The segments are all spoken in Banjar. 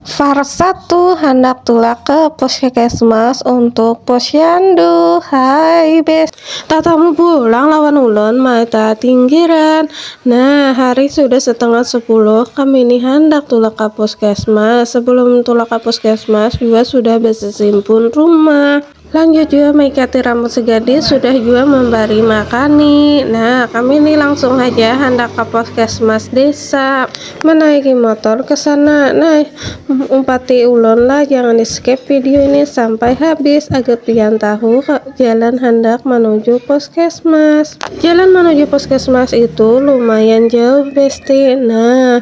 Salah satu handak tulak ke puskesmas untuk posyandu. Hai bes. Tatamu pulang lawan ulun mata tinggiran. Nah, hari sudah setengah sepuluh, kami ni handak tulak ka puskesmas. Sebelum tulak ka puskesmas jua sudah besesimpun rumah. lanjut jua maikati rambut si gadis sudah jua membari makani nah kami ini langsung aja hendak ke puskesmas desa menaiki motor ke sana nah umpati ulon lah jangan di skip video ini sampai habis agar pian tahu jalan hendak menuju puskesmas jalan menuju puskesmas itu lumayan jauh besti nah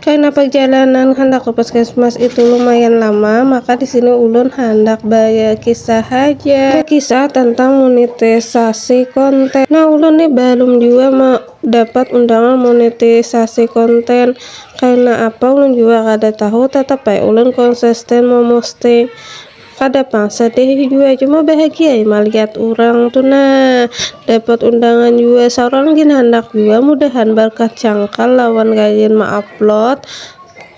Karna parjalanan handak ke puskesmas itu lumayan lama, maka di sini ulun handak bakisah haja. Bakisah tentang monetisasi konten. Nah, ulun nih balum jua dapat undangan monetisasi konten. Karna apa ulun jua kada tahu, tatap ai ulun konsisten memosting. Kada pang sadih jua cuma bahagiai malihat urang tu nah. Dapat undangan jua saurang gin handak jua mudahan barkah cangkal lawan gayun ma-upload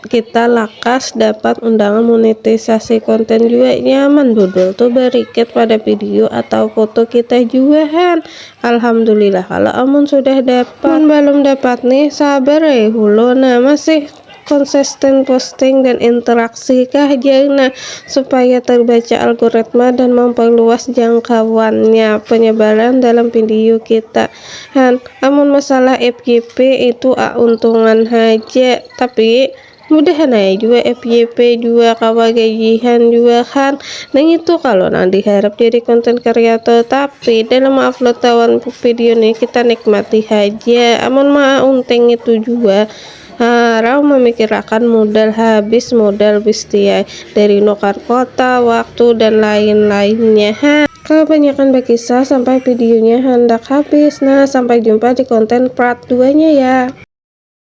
kita lakas dapat undangan monetisasi konten jua nyaman dodol tu barikit pada video atau foto kita jua han. Alhamdulillah kalo amun sudah dapat. Mun balum dapat nih sabar ai hulo nah masih Konsisten posting dan interaksi kah jar nah supaya terbaca algoritma dan memperluas jangkauannya penyebaran dalam video kita han amun masalah FYP itu auntungan haja tapi mudahan ae jua FYP jua kawa gajihan jua han nang itu kalo nang diharap jadi konten kreator tapi dalam mengupload tawan video nih kita nikmati haja amun maaunting itu jua Harau memikirakan modal habis, modal bistiai, dari nukar kota, waktu, dan lain-lainnya. Ha. Kebanyakan bakisah sampai videonya handak habis. Nah, sampai jumpa di konten part duanya ya.